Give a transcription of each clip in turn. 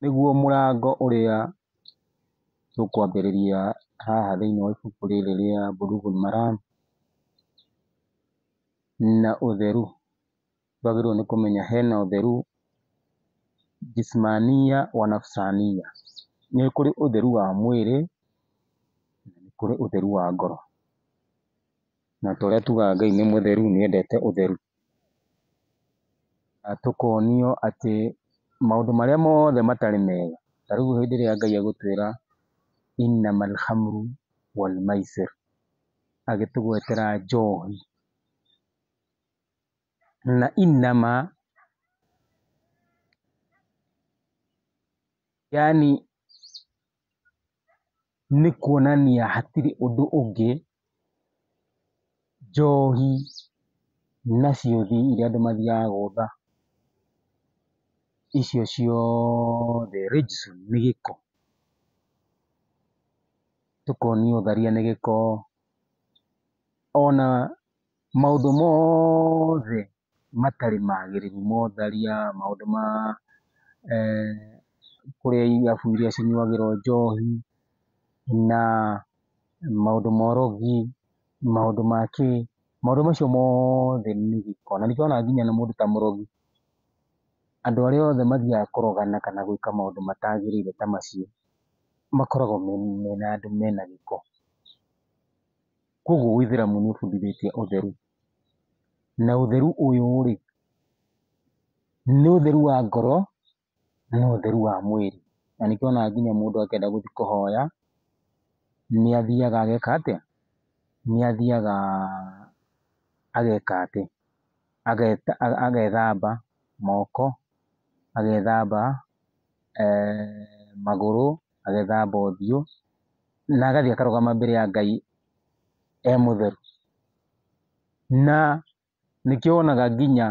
nĩguo mũrango ũrĩa tũkwambĩrĩria haha thĩiniĩ wa ibuku rĩrĩ rĩa Bulughul Maram, na ũtheru, twagĩrĩirwo nĩ kũmenya hena ũtheru Jismania wa Nafsania, nĩ kũrĩ ũtheru wa mwĩrĩ, na nĩ kũrĩ ũtheru wa ngoro, na torĩa tugaga Ngai nĩ mũtheru, nĩendete ũtheru. tũkonio atĩ maũndũ marĩa mothe matarĩ mega, ta rĩu hĩndĩ ĩrĩa Ngai egũtwĩra innamal khamru wal maisir agĩtũgwetera njohi na innama yaani nĩ kuonania hatirĩ ũndũ ũngĩ, njohi na ciũthi iria andũ mathiaga gũtha, icio ciothe, rĩu nĩ gĩko, tũkonio tharia nĩ gĩko, ona maũndũ mothe. matarĩ magĩrĩru motharia, maũndũ ma kũrĩa irabu iria cinyuagĩrwo njohi na maũndũ ma ũrogi, maũndũ ma kĩ, maũndũ macio mothe nĩ gĩko. Na nĩkĩo wonaga nginya mũndũ ta mũrogi, andũ arĩa othe mathiaga kũrogana kana gwĩka maũndũ matagĩrĩire ta macio, makoragwo mena andũ mena gĩko. Kũguo ũithĩramu nĩ ũbundithĩtie ũtheru. na ũtheru ũyũ rĩ, nĩ ũtheru wa ngoro na ũtheru wa mwĩrĩ. Na nĩkĩo wonaga nginya mũndũ akĩenda gũthiĩ kũhoya nĩ athiaga ageka atĩa? Nĩ athiaga ageka atĩ, agethamba moko, agethamba magũrũ, agethamba ũthiũ na agathiĩ akarũgama mbere ya Ngai e mũtheru. Na nĩkĩo wonaga nginya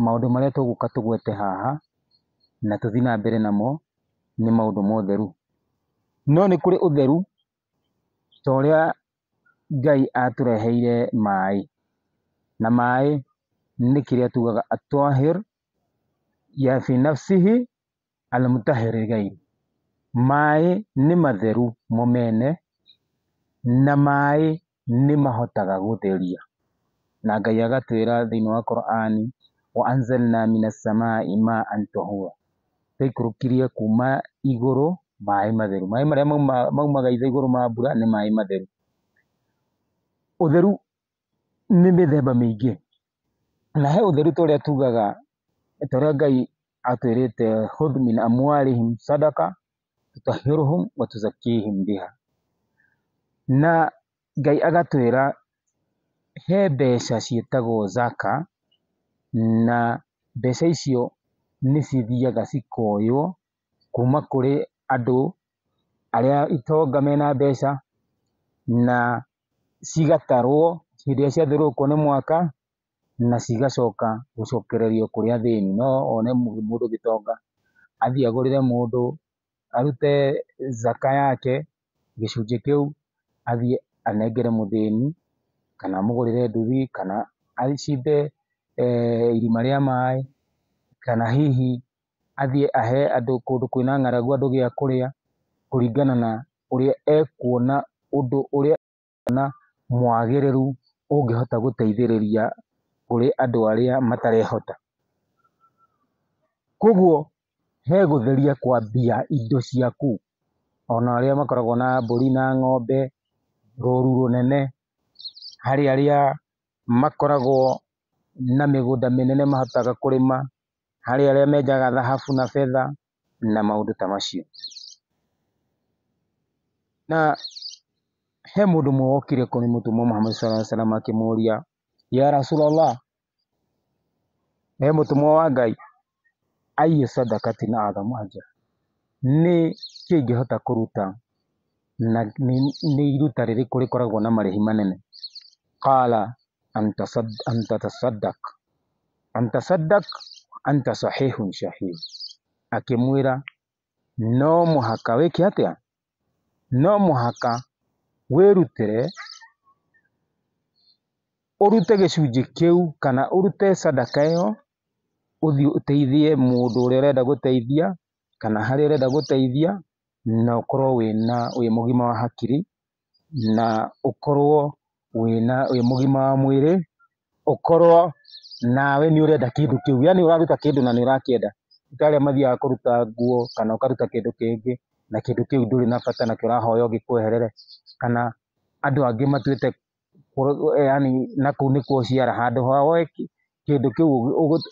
maũndũ marĩa tũgũka tũgwete haha na tũthiĩ na mbere namo nĩ maũndũ ma ũtheru. No nĩ kũrĩ ũtheru ta ũrĩa Ngai atũreheire maĩ, na maĩ nĩ kĩrĩa tugaga Atwahir, Yafinafsihi. Al-Mutahhirigain, Maĩ nĩ matheru mo mene, na maĩ nĩ mahotaga gũtheria. Na Ngai agatwĩra thĩinĩ wa Qur'an, Wa anzalna mina samai maan tahura, Twaikũrũkirie kuuma igũrũ maĩ matheru. Maĩ marĩa maumaga igũrũ ma mbura nĩ maĩ matheru. Ũtheru nĩ mĩthemba mĩingĩ, na he ũtheru ta ũrĩa tugaga, ta ũrĩa Ngai atwĩrĩte hudh min amwarihim sadaqa tutahiruhum wa tuzakihim biha na Ngai agatwĩra he mbeca ciĩtagwo zaka, na mbeca icio nĩ cithiaga cikoywo kuma kũrĩ andũ arĩa itonga mena mbeca, na cigatarwo hĩndĩ ĩrĩa ciathiũrũrũkwo nĩ mwaka na cigacoka gũcokererio kũrĩ athĩni. No wone mũndũ gĩtonga athiĩ agũrĩre mũndũ, arute zaka yake gĩcunjĩ kĩu athiĩ anengere mũthĩni kana amũgũrĩre nduthi kana acimbe irima rĩa maĩ kana hihi athiĩ ahe andũ kũndũ kwĩna ng'aragu andũ gĩa kũrĩa, kũringana na ũrĩa ekuona ũndũ ũrĩa ekuona mwagĩrĩru ũngĩhota gũteithĩrĩria kũrĩ andũ arĩa matarehota. Koguo he gũtheria kwa mbia indo cia kũu, ona arĩa makoragwo na mbũri na ng'ombe, rũru rũnene, harĩ arĩa makoragwo na mĩgũnda mĩnene mahotaga kũrĩma. harĩ arĩa menjaga thahabu na betha na maũndũ ta macio. Na he mũndũ ũmwe wokire kũrĩ mũtũmwo Muhammad sallallahu alaihi wasallam akĩmũria, ya Rasulullah, he mũtũmwo wa Ngai, ayyu sadaqatin a'zamu ajra, nĩ kĩĩ ingĩhota kũruta Na nĩ iruta rĩrĩkũ rĩkoragwo na marĩhi manene? Qala antatasaddaq antatasaddaq anta sahihun shahih, akĩmwĩra no mũhaka wĩke atĩa? No mũhaka wĩrutĩre ũrute gĩcunjĩ kĩu kana ũrute sadaka ĩyo ũthiĩ ũteithie mũndũ ũrĩa ũrenda gũteithia. kana harĩa ũrenda gũteithia na ũkorwo wĩna, wĩ mũgima wa hakiri, na ũkorwo wĩna, wĩ mũgima wa mwĩrĩ, ũkorwo nawe nĩ ũrenda kĩndũ kĩu, yaani ũraruta kĩndũ na nĩ ũrakĩenda, ti ta arĩa mathiaga kũruta nguo kana ũkaruta kĩndũ kĩngĩ na kĩndũ kĩu ndũrĩ na bata nakĩo ũrahoya o gĩkweherere, kana andũ angĩ matuĩte yaani na kũu nĩkuo ũciara handũ ha woe kĩndũ kĩu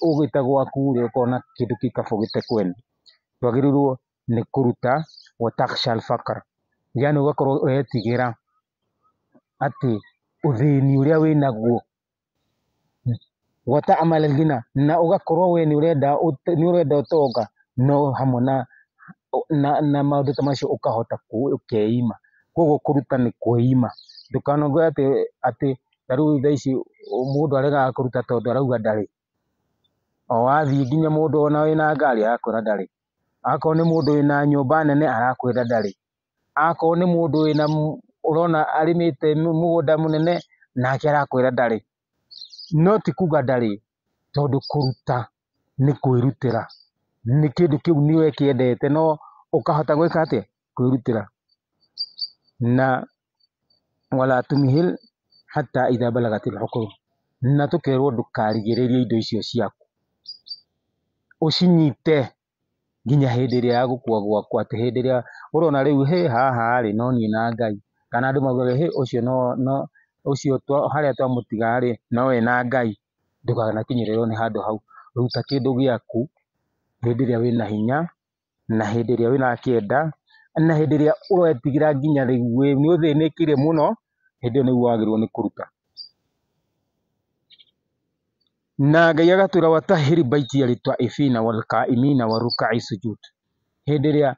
ũgĩte gwaku rĩ ũkona kĩndũ kĩu kaba ũgĩte kwene. Twagĩrĩirwo nĩ kũruta watakshan fakar yaani ũgakorwo ũretigĩra atĩ ũthĩni ũrĩa wĩnaguo. gwata amarĩthina na ũgakorwo we nĩ ũrenda nĩ ũrenda ũtonga no hamwe na na maũndũ ta macio ũkahota ũkeima. Koguo kũruta nĩ kweima. Ndũkanauge atĩ atĩ ta rĩu thaa ici mũndũ aregaga kũruta tondũ arauga ndarĩ. O wathiĩ nginya mũndũ ona wĩna ngari arakwĩra ndarĩ. Akorwo nĩ mũndũ wĩna nyũmba nene arakwĩra ndarĩ. Akorwo nĩ mũndũ wĩna ũrona arĩmĩte mũgũnda mũnene nake arakwĩra ndarĩ. No ti kuga ndarĩ, tondũ kũruta nĩ kwĩrutĩra. Nĩ kĩndũ kĩu nĩ ũkĩendete no ũkahota gwĩka atĩa? Kwĩrutĩra. Na wala tumhil hata idha balagat alhuqul, na tũkerwo ndũkarigĩrĩrie indo icio ciaku, ũcinyite nginya hĩndĩ ĩrĩa ya gũkua gwakwa, atĩ hĩndĩ ĩrĩa ũrona rĩu hĩ haha rĩ, no niĩ na Ngai, kana andũ maugaga hĩ ũcio no no ũcio harĩa twamũtiga rĩ, no we na Ngai, ndũkanakinyĩrĩrwo nĩ handũ hau, ruta kĩndũ gĩaku hĩndĩ ĩrĩa wĩna hinya, na hĩndĩ ĩrĩa ũrakĩenda, na hĩndĩ ĩrĩa ũretigĩra nginya rĩu wĩ nĩ ũthĩnĩkire mũno, hĩndĩ ĩyo nĩguo wagĩrĩirwo nĩ kũruta. Na Ngai agatwĩra watahiri baiti ya ritwa ifina wal qaimina wa rukai sujud hĩndĩ ĩrĩa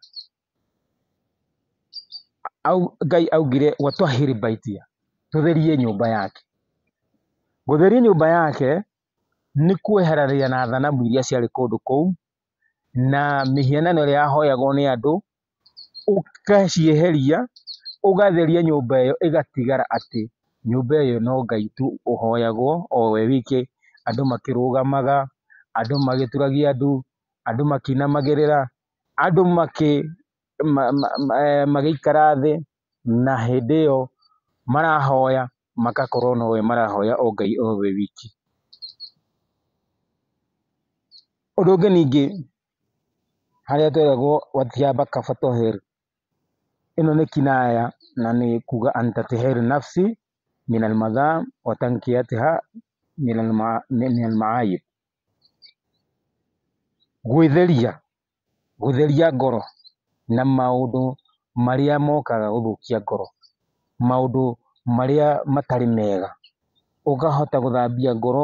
Ngai augire watwahiri baitia tũtherie nyũmba yake gũtheria nyũmba yake nĩ kweharania na thanamu iria ciarĩ kũndũ kũu na mĩhianano ĩrĩa yahoyagwo nĩ andũ ũgacieheria, ũgatheria nyũmba ĩyo ĩgatigara atĩ nyũmba ĩyo no Ngai tu ũhoyagwo o we wike, andũ makĩrũgamaga, andũ magĩturagia ndu, andũ makĩinamagĩrĩra, andũ magĩikara thĩ na hĩndĩ ĩyo marahoya magakorwo no we marahoya o Ngai o we wiki. Ũndũ ũngĩ ningĩ... harĩa tweragwo Watiaba Kafatoher. Ĩno nĩ kinaya na nĩ kuga Antatiher Nafsi min al-Madham wa Tankiyatiha min al-Maayib. Gwĩtheria, gũtheria ngoro na maũndũ marĩa mokaga gũthũkia ngoro, maũndũ marĩa matarĩ mega. Ũkahota gũthambia ngoro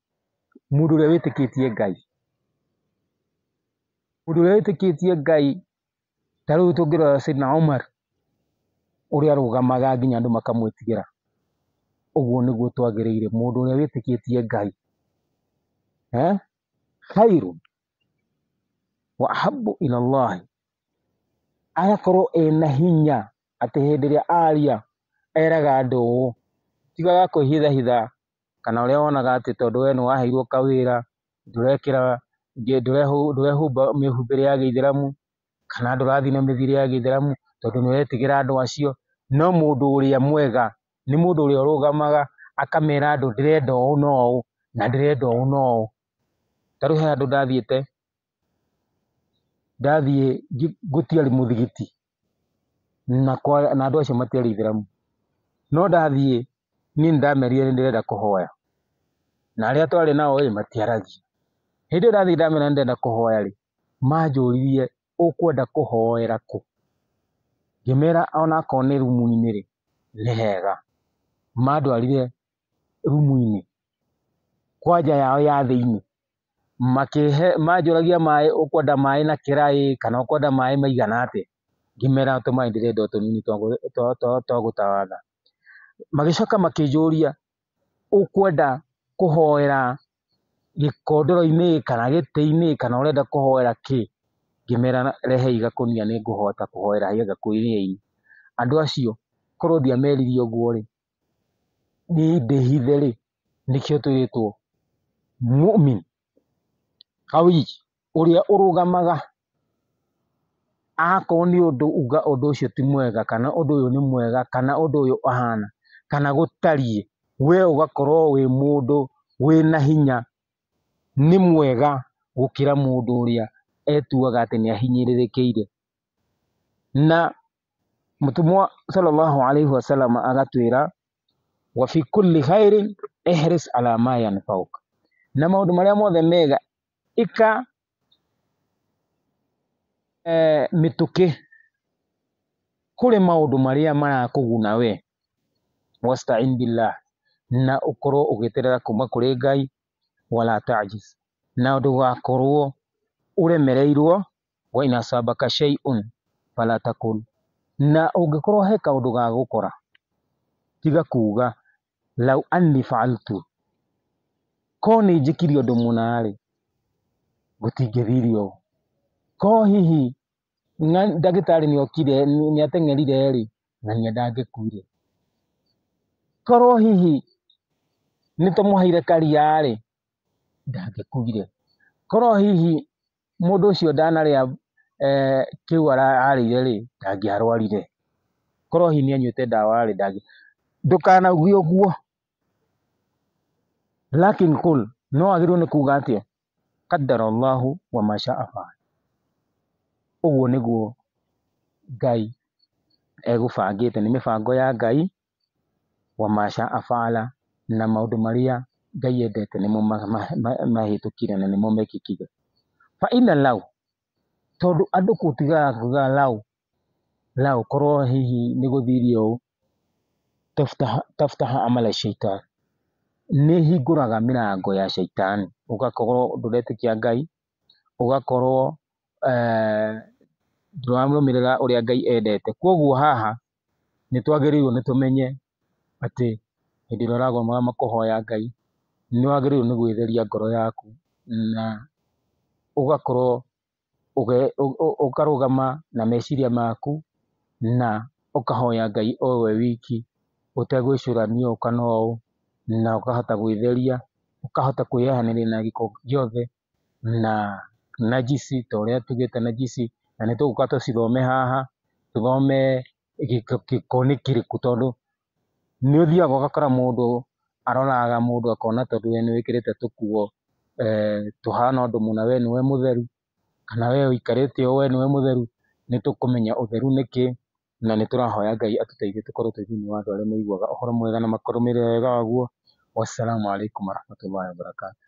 mũndũ ũrĩa wĩtĩkĩtie Ngai, mũndũ ũrĩa wĩtĩkĩtie Ngai, ta rĩu tũngĩrora Sayyidna Umar, ũrĩa arũgamaga nginya andũ makamwĩtigĩra, ũguo nĩguo twagĩrĩire, mũndũ ũrĩa wĩtĩkĩtie Ngai, eh, khairun wa ahabbu ila Allah, agakorwo ena hinya atĩ hĩndĩ ĩrĩa aria, eraga andũ ũũ, tigaga kwĩhithahitha kana ũrĩa wonaga atĩ tondũ we nĩ waheirwo kawĩra, ndũrekĩra, ndũrehumba mĩhumbĩre ya gĩithĩramu, kana ndũrathiĩ na mĩthiĩre ya gĩithĩramu, tondũ nĩ ũretigĩra andũ acio. No mũndũ ũrĩa mwega, nĩ mũndũ ũrĩa ũrũgamaga akamera andũ ndĩrenda ũũ na ũũ, na ndĩrenda ũũ na ũũ. Ta rĩu he handũ ndathiĩte, ndathiĩ gũtiarĩ mũthigiti na andũ acio matiarĩ aithĩramu, no ndathiĩ niĩ nĩndamerire nĩndĩrenda kũhoya na arĩa twarĩ nao ĩ matiaragia, hĩndĩ ĩyo ndathiĩ ndamera nĩndĩrenda kũhoya rĩ manjũririe ũkwenda kũhoera kũ? ngĩmera onakorwo nĩ rumu-inĩ rĩ nĩ hega, mandwarire rumu-inĩ kwa nja yao ya thĩiniĩ. makĩhe manjũragia maĩ ũkwenda maĩ na kĩraĩ kana ũkwenda maĩ maigana atĩa, ngĩmera tũmaĩ ndĩrenda o tũnini twa gũtawadha, magĩcoka makĩnjũria ũkwenda kũhoera gĩkondoro-inĩ kana gĩtĩ-inĩ kana ũrenda kũhoera kĩ, ngĩmera rehe igakũnia nĩ ngũhota kũhoera igakũnia-inĩ, andũ acio korwo ndiameririe ũguo rĩ, niĩ ndĩhithe rĩ, Nĩkĩo twĩrĩtwo Mu'min qawi ũrĩa ũrũgamaga akorwo nĩ ũndũ uga ũndũ ũcio ti mwega kana ũndũ ũyũ nĩ mwega kana ũndũ ũyũ ũhana kana gũtariĩ, we ũgakorwo wĩ mũndũ wĩna hinya nĩ mwega gũkĩra mũndũ ũrĩa etuaga atĩ nĩ ahinyĩrĩrĩkĩire. Na mũtũmwo Sallallahu Alaihi Wasallam agatwĩra wa fi kulli khairin ihris ala ma yanfauk na maũndũ marĩa mothe mega ika eh, mĩtũkĩ kũrĩ maũndũ marĩa marakũguna we wastain billah na ũkorwo ũgĩterera kuma kũrĩ ngai wala tajiz na ndũgakorwo ũremereirwo wa in asabaka shay'un fala taqul na ũngĩkorwo he kaũndũ gagũkora tiga kuga law anni fa'altu ko nĩ njĩkire ũndũ mũna rĩ gũtingĩthire ũũ ko hihi na ndagĩtarĩ nĩ okire nĩ ateng'erire rĩ na niĩ ndangĩkuire korwo hihi nĩ tũmũheire karia rĩ ndangĩkuire korwo hihi mũndũ ũcio ndanarĩa kĩu ararĩire rĩ, ndangĩarwarire, korwo hihi nĩ anyuĩte ndawa rĩ, ndũkanauge ũguo, lakin qul no wagĩrĩirwo nĩ kuuga atĩa? Qadara Allahu wa ma shaa faal ũguo nĩguo Ngai egũbangĩte, nĩ mĩbango ya Ngai. wama shaa faala, na maũndũ marĩa Ngai endete nĩmo mahĩtũkire na nĩmo mekĩkire. Fa inna law, tondũ andũ gũtigaga kuuga law law korwo hihi nĩ gũthiria ũũ, taftah taftah amala shaitan, nĩ ĩhingũraga mĩrango ya Shaitani, ũgakorwo ndũretĩkia Ngai ũgakorwo ndũrarũmĩrĩra ũrĩa Ngai endete. Koguo haha nĩ twagĩrĩirwo nĩ tũmenye atĩ hĩndĩ ĩrĩa ũrarũgama kũhoya Ngai, nĩ wagĩrĩirwo nĩ gwĩtheria ngoro yaku na ũgakorwo ũkarũgama na meciria maku na ũkahoya Ngai o we wiki. ũtegwĩcũrania ũũ kana ũũ, na ũkahota gwĩtheria, ũkahota kwĩyeheria na gĩko gĩothe na najisi ta ũrĩa tugĩte najisi, na nĩ tũgũka tũcithome haha, tũthome gĩko nĩ kĩrĩkũ tondũ nĩ ũthiaga ũgakora mũndũ aroraga mũndũ akona tondũ we nĩ wĩkĩrĩte tũkuo tũhana ũndũ mũna we nĩwe mũtheru, kana we ũikarĩte ũũ we nĩwe mũtheru, nĩ tũkũmenya ũtheru nĩ kĩĩ. na nĩ tũrahoya Ngai atũteithie tũkorwo twĩ thĩinĩ wa andũ arĩa maiguaga ũhoro mwega na makarũmĩrĩra wega waguo. Wassalamu alaikum warahmatullahi wabarakatuh.